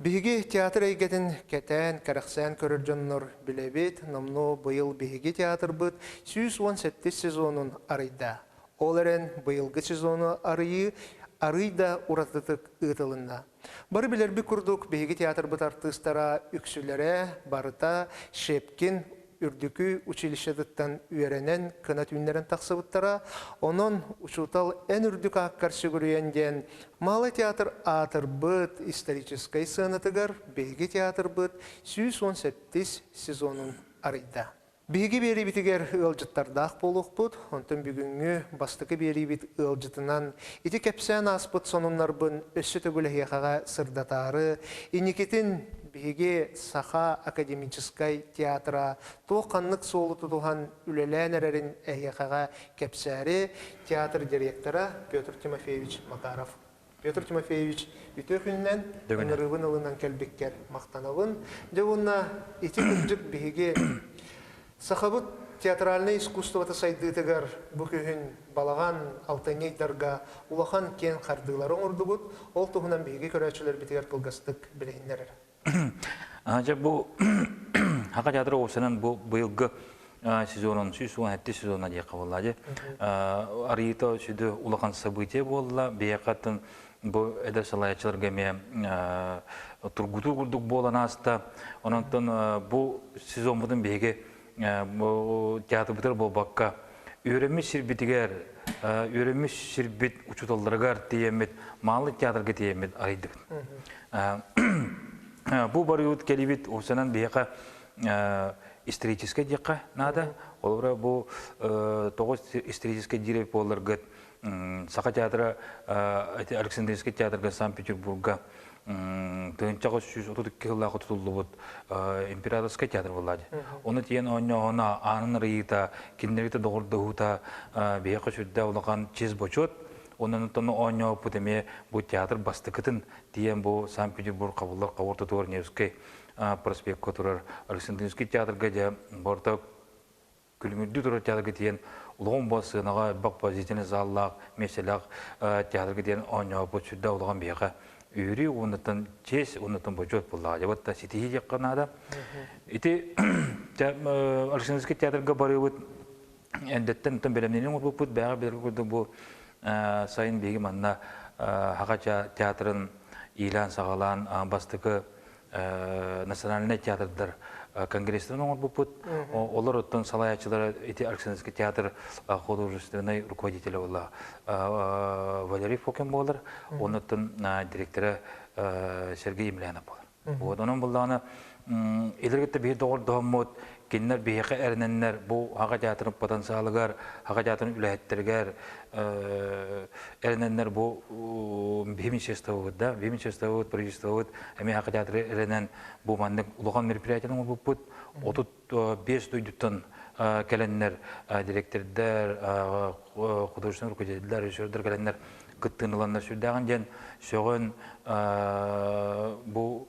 Биһиги театр эйгэтин кэтээн, кэрэхсээн көрөр дьоннор билэбит, номнуо быйыл биһиги театрбыт сүүс уон сэттис сезонун арыйда. Ол эрэн быйылгы сезону арыйыы арый да уратытык ыытылынна. Бары билэрбит курдук, биһиги театрбыт артыыстара үксүлэрэ барыта Шепкин үрдүкү училищетыттан үөрэнэн, кына түүннэрин тахсыбыттара. Онон учуутал эн үрдүк ааккар сүгүрүйэн диэн Малый театр аатырбыт историческай сыанатыгар биһиги театрбыт сүүс уон сэттис сезонун арыйда. Биһиги биэриибитигэр ыалдьыттардаах буолуохпут, онтон бүгүҥҥү бастакы биэриибит ыалдьытынан ити кэпсээн ааспыт сонуннарбын өссө төгүлэһиэхэҕэ сырдатаары, инникитин Биһиги Саха академическай театра туох-ханнык суолу тутуһан үлэлээн эрэрин эһиэхэҕэ кэпсээри, театр директора Петр Тимофеевич Макаров. Петр Тимофеевич, үтүө күнүнэн, ыҥырыыбын ылынан кэлбиккэр махтанабын. Дьэ уонна ити кырдьык биһиги Сахабыт театральнай искусствота сайдыытыгар бу күһүн балаҕан алтынньыйдарга улахан киэҥ хардыылары оҥордубут, ол туһунан биһиги көрөөччүлэрбитигэр кылгастык билиһиннэрэр. Дьэ, бу Хака театр уопсанан бу быйылгы сезонун сүүс уон сэттис сезонна диэххэ буолла. Арыыта сүдү улахан событие буолла. Биһиэхэ бу эдэр салайаччыларга эмиэ тургутуу курдук буолан ааста. Онон бу сезоммутун биһиги театрбытыгар буолбакка, үөрэммит сирбитигэр, үөрэммит сирбит учууталларыгар тиийэммит, маалы театрга тиийэммит арыйдыбыт. Бу барыыбыт кэлибит осанан биһиэхэ историческай диэххэ наада. Олора бу тоҕус историческай диирэ буолларгыт Саха театра Александрийский театрга Санкт-Петербурга тыынчаҕы сүүс отут икки сыллаах тутуллубут императорскай театр буолла дии. Оны тиен оонньооһуна, аанын арыйыыта, кинилэрите доҕордоһуута биһиэхэ сүрдээх улахан чиэс бочуот. Оннан оонньооппут эмиэ бу театр бастакытын тиен бу Санкт-Петербург хабыллар хабыр тутуор Невский проспекка турар Александрийский театрга дьэ борта Күлүмүрдүү турар театрга диэн улахан сыанаҕа элбэх поздительный заллаах, меселээх театрга диэн оонньооппут сүрдээх улахан биһиэхэ үөрүү уоннаттан честь уоннаттан бочуот буллаҕа. Дьабыт да ситиһии диэххэ наада. Ити Арсеновский театрга барыыбыт эндеттен оттон бэлэмнэни оҥорбуппут бэҕэ билэргэ курдук бу сайын биһиги манна Хахача театрын иилээн-саҕалаан бастакы национальнай театрдар конгресстарын оҥорбуппут. Олор оттон салайааччылара ити Арксеновский театр художественнай руководителя була Валерий Фокин буолар. Оннуттан директора Сергей Емельянов буолар. Вот онон буллаҕына илэргитте биир доҕордоһоммут Кинилэр биһиэхэ эрэнэннэр бу Аҕа театрын потенциалыгар, Аҕа театрын үлэһиттэригэр эрэнэннэр бу биһи министерствобыт да, биһи министерствобыт, правительствобыт эмиэ Аҕа театры эрэнэн бу маннык улахан мероприятиятын оҥорбуппут. Отут биэс дойдуттан кэлэннэр директордар, художественнай руководитель, режиссердар кэлэннэр кыттыыныланнар сүрдээҕин диэн сөҕөн бу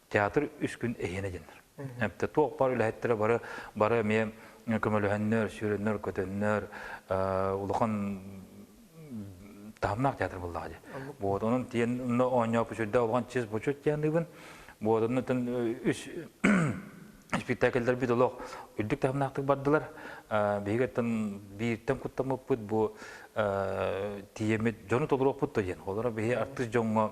театр үс күн иһиэнэ диэннэр. Эпте туох бар үлэһиттэрэ бары бары эмиэ көмөлөһөннөр, сүүрөннөр, көтөннөр улахан таһымнаах театр буллаҕа дии. Вот онон тиэн оонньоп үчүрдэ улахан чыс бучут дианыыбын. Вот онно тан үс спектакльдар бит олох үрдүк таһымнаахтык бардылар. Биһигиттэн бииртэн куттамыппыт бу тиемит дьону толуроппут да диэн. Олора биһи артыст дьоҥҥо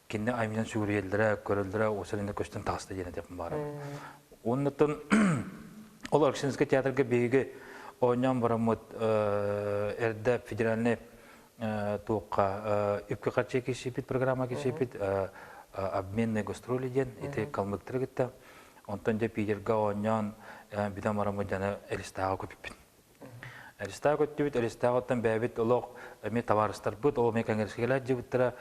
кинини аймынан сүгүрүйэллэрэ, көрөллөрө, осалина көстөн тахыста диэн этиэм баара. Оннуттан ол Арксинский театрга биһиги оонньоон бараммыт эрдэ федеральный туохха үпкэ харчы кисипит программа кисипит обменные гастроли диэн ити калмыктары кытта онтон дьэ Питерга оонньоон бүтэн бараммыт дьаны Элистааҕа көпүппүт Аристаак өттүбүт Аристаактан бэйэбит олох эмиэ табаарыстарбыт, ол эмиэ конгрессигалар дьыбыттара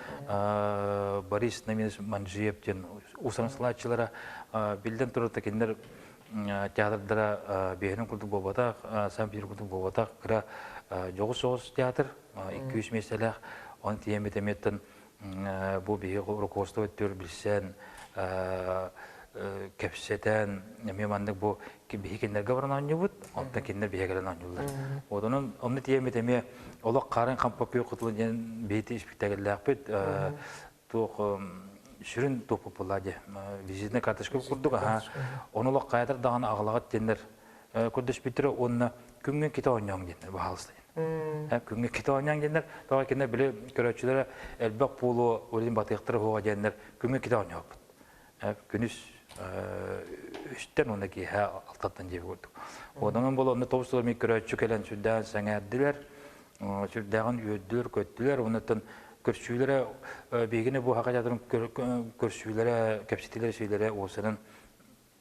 Борис Наминус Манджиев диэн усансылааччылара биллэн турарта кинилэр театрдара биэһинин курдук буолбатах, сам биир курдук буолбатах кыра дьоҕус соҕус театр, 200 миэстэлээх, он тиэмит эмиэттэн Бу биһиги руководство өттүгэр билсэн, кэпсэтэн, эмиэ маннык бу биһи кинилэргэ баран оонньуубут, онтон кинилэр биһиги кэлэн оонньууллар. Вот онон онну тиэммит эмиэ олох хаарыҥ хампапыыр кутулун диэн бэйти испиктэгиллээхпит туох сүрүн туоппуппулаа дии визитный карточка курдук аха он олох хаятар даҕаны аҕалаҕыт тиэннер көрдөспүттэрэ уонна күҥҥэ китэ оонньооҥ диэннэр баһаалыстай күҥҥэ китэ оонньооҥ диэннэр тоҕо кинэ били көрөөччүлэрэ элбэх буолуо урин батыахтара хуоҕа диэннэр күҥҥэ китэ оонньооппут күнүс үстэн уонна киэһэ алтаттан дьиэ курдук оонньоон болонно тоҕус сыл эмиэ көрөөччү кэлэн сүрдээн сэҥээрдилэр сүрдээҕин үөрдүлэр көттүлэр уоннаттан көрсүүлэрэ биһигини бу хака театрын көрсүүлэрэ кэпсэтиилэрэ сиилэрэ уосанын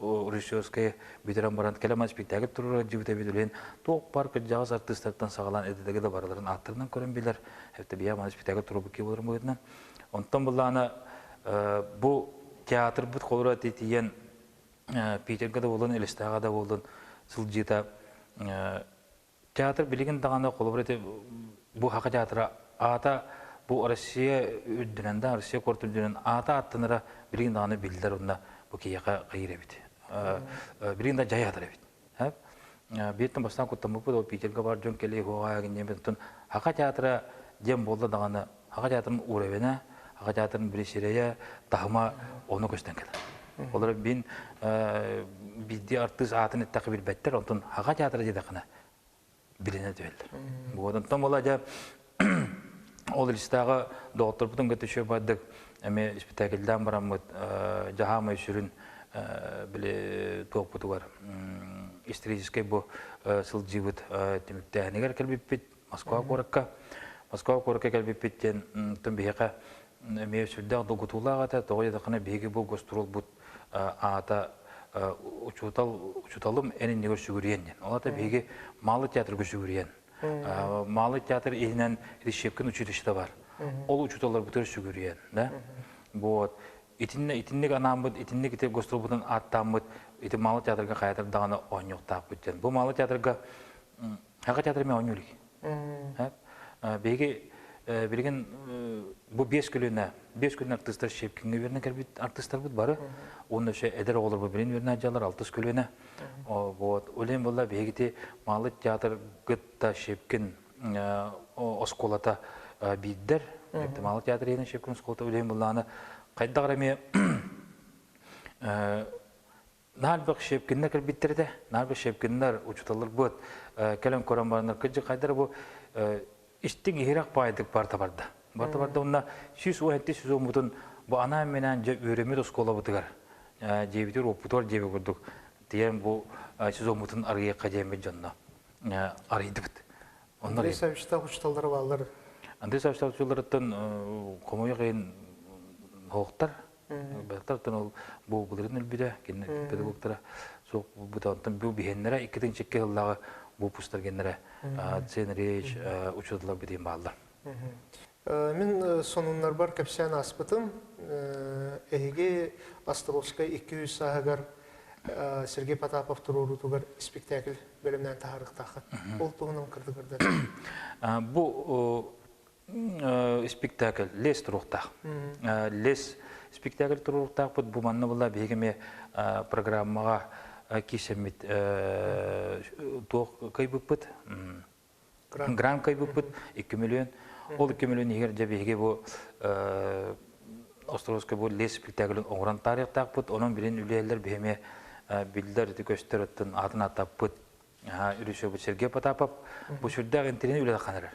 режиссерскай бүтэрэн баран кэлэн спектакль турура дьыбыт эбит үлэһин туох бар кырдьаҕас артыыстартан саҕалаан эдэтеги да барыларын ааттарынан көрөн билэр эбэтэ биһэ маны спектакль турубукки болырым быһытынан онтон былаана бу театрбыт холура тиийэн питерга да болун элестаға да болун сылдьыта театр билигин даҕаны холобур ити бу хакы театра аата бу Россия үрдүнэн да Россия куорат үрдүнэн аата аттанара билигин даҕаны биллэр онно бу киһиэхэ кыйыр эбит билигин да дьайатар эбит бииртэн бастаан куттаммыппыт ол питерге бар дьон кэлии хуоҕа гиннебит оттон хака театра диэн буолла даҕаны Аҕа театрым уровена, Аҕа театрым бирисирэйэ, таһыма ону көстөн кэлэр. Олор бин бизди артыыс аатын эттэхи билбэттэр, онтон Аҕа театра диэтэххинэ билинэ түөллэр. Вот онтон бола дьа ол илистааҕы доҕотторбутун кытта үчүгэй бардык эми спектакльдаан бараммыт дьаһаамай сүрүн били туоппутугар историческай бу сылдьыыбыт түмүктээһинигэр кэлбиппит Москва куоракка Москва куоракка кэлбиппит диэн тон биһиэхэ эмиэ сүрдээх долгутуулаах этэ тоҕо диэтэххинэ биһиги бу гастролбут аата учуутал учууталым эн иннигэр сүгүрүйэн диэн ол аата биһиги маалы театрга сүгүрүйэн маалы театр иһинэн Рещепкин училищета бар ол учууталларбытыгар сүгүрүйэн да вот итинне итинник анааммыт итинник ити гастролбутун ааттааммыт ити маалы театрга хайатар даҕаны оонньуохтаахпыт диэн бу маалы театрга Саха театра мен оонньуу илик. Биһиги билигин бу биэс көлүөнэ биэс көлүөнэ артыыстар щепкиҥҥэ үөрэнэ кэлбит артыыстарбыт бары уонна өссө эдэр оҕолорбу билин үөрэнэ дьаллар алтыс көлүөнэ вот ойлайм буолла биһигити маалы театрга да щепкин оскуолата биирдэр маалы театр иһинэн щепкин оскуолата ойлайм буоллааны хайдах эмиэ Нарбек Щепкиннер кэлбиттер этэ. Нарбек Щепкиннер учуталларбыт кэлэн көрөн бараннар кыдьы хайдара бу истиҥ иһирэх баайдык барта барда. Барта барда уонна сүүс уон эти сүүс уоммутун бу анаан менен дьэ үөрөммүт оскуолабытыгар дьиэбитигэр уоппутугар дьиэбэ курдук тиийэн бу сүүс уоммутун арыйыахха диэммит дьонно арыйдыбыт. Андрей Савич учуталлары бааллар. Андрей Савич учуталларыттан хомойуох иһин оһохтар Баттартан ол буубуларын өлбүтэ, кинини педагогтара суох булбута. Онтон бу биһэннэрэ иккитин чекки сыллааҕы буупустар геннэрэ Цен Реевич учууталлар бүтүн бааллар. Мин сонуннарбар кэпсээн ааспытым. Эһиги Островскай икки үс сааһыгар Сергей Потапов туруоруутугар спектакль бэлэмнээн таһаарыахтааххыт. Ол туһунан кырдык да. Бу спектакль лес туруктаах лес спектакль туруктаахпыт бу манна была биһиги ме программаға кишеммит туох кайбыппыт грант кайбыппыт икки миллион ол икки миллион иһигэр дьэ биһиги бу островской бу лес спектаклин оҥорон таарыктаахпыт онон билин үлээлер биһиме биллер көстөр атын атын атаппыт үрүсөбүт Сергей Потапов бу сүрдээх интеллигент үлэ ханарар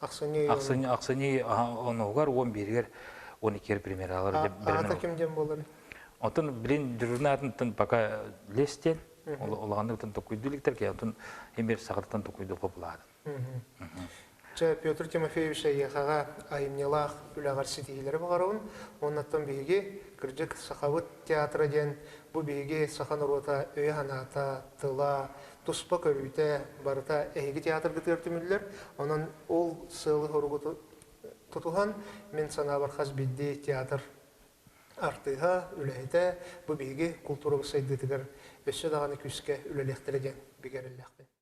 Ахсынньы ахсынньы онугар он бииригэр он икигэр премьералар аата ким диэн буоларын Отон, блин, дюрнатынтан пока лес диэн, улаганныктан токуйдуликтар, ке отон эмир сахартан токуйду хопулаадын. Чэ, Петр Тимофеевич Аяхаға айымньылаах үләгәр ситиһиләре бағарауын, оннаттан биһиги кырдык сахабыт театра диэн бу биһиги саха норуота өйө-санаата, тыла, туспа көрүүтэ барыта эһиги театргытыгар түмүллэр. Онон ол сыалы-соругу тутуһан, мин санаабар хас биирдии театр артыыһа, үлэһитэ бу биһиги култуурабыт сайдыытыгар өссө даҕаны күүскэ үлэлиэхтэрэ диэн бигэрэллэхпин.